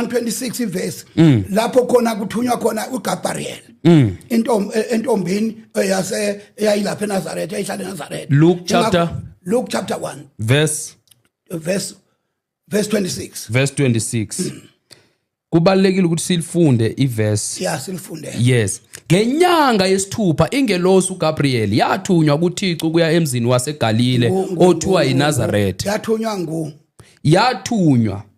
26 ivesi mm. lapho khona kuthunywa khona uGabriel mm. intombi e, entombini e, yase eyayilapha eNazareth eyayihlala eNazareth Luke chapter Luke chapter 1 verse verse verse 26 verse 26 kubalekile ukuthi silifunde iverse yeah silifunde yes ngenyanga yesithupha ingelosi uGabriel yathunywa kuThixo kuya emzini waseGalile othiwa yiNazareth yathunywa ngu yathunywa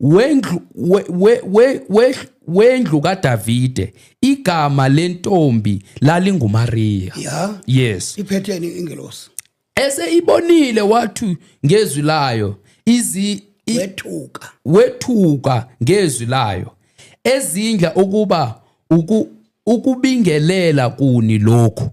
wendlu we, we, we, we, wendlu kaDavide igama lentombi lalinguMaria yeah. yes iphetheni ingelosi ese ibonile wathi ngezwi layo izi wethuka wethuka ngezwi layo ezindla ukuba uku Ukubingelela kuni lokhu?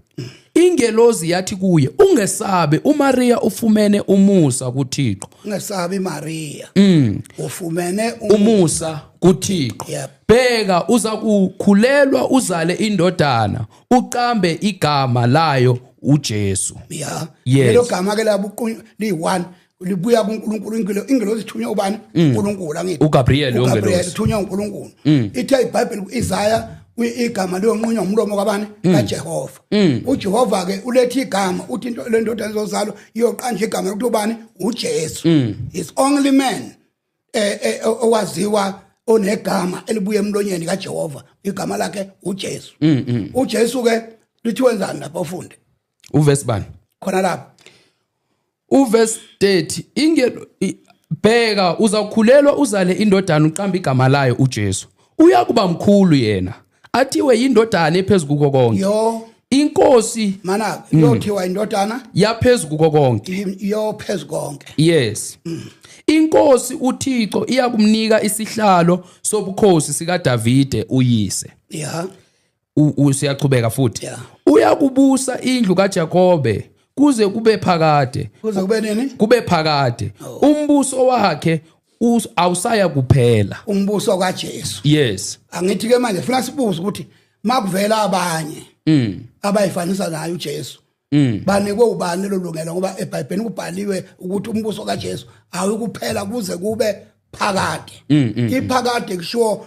Ingelozi yathi kuye, ungesabe, uMaria ufumene umusa kuThixo. Ungesabi Maria. Mm. Ufumene umu- Umusa kuThixo. Yep. Bheka uza kukhulelwa uzale indodana, uqambe igama layo uJesu. Yeah. Yes. Lelo gama ke labuqunywa liyi-one libuya kuNkulunkulu ingilo ingilozi ithunywa ubani mm. uNkulunkulu angithi uGabriel uGabriel ithunywa uNkulunkulu mm. ithe iBhayibheli kuIsaya igama liyonqunywa umlomo kwabani mm. kaJehova uJehova ke ulethe igama uthi into lendoda ezozalwa iyoqanja igama lokuthi ubani uJesu is only man eh, eh, eh, owaziwa onegama elibuye emlonyeni kaJehova igama lakhe uJesu uJesu ke lithi wenzani lapha ufunde Uverse bani? Khona lapha. Uverse 30 inge bheka uzakhulelwa uzale indodana uqamba igama layo uJesu. Uyakuba mkhulu yena. Athiwe yindodana ephezulu kuko konke. Yo. Inkosi mana mm. yothiwa indodana yaphezulu kuko konke. Yo phezulu konke. Yes. Mm. Inkosi uThixo iyakumnika isihlalo sobukhosi sikaDavide uyise. Yeah. usiyaqhubeka futhi uyakubusa indlu kaJakobe kuze kube phakade kuze kube nini kube phakade oh. umbuso wakhe awusaya kuphela umbuso kaJesu yes angithi ke manje funa sibuze ukuthi makuvela abanye mm abayifanisa naye uJesu mm banikwe ubani lolungelo ngoba eBhayibhelini kubhaliwe ukuthi umbuso kaJesu awukuphela kuze kube phakade mm, mm, mm. iphakade kusho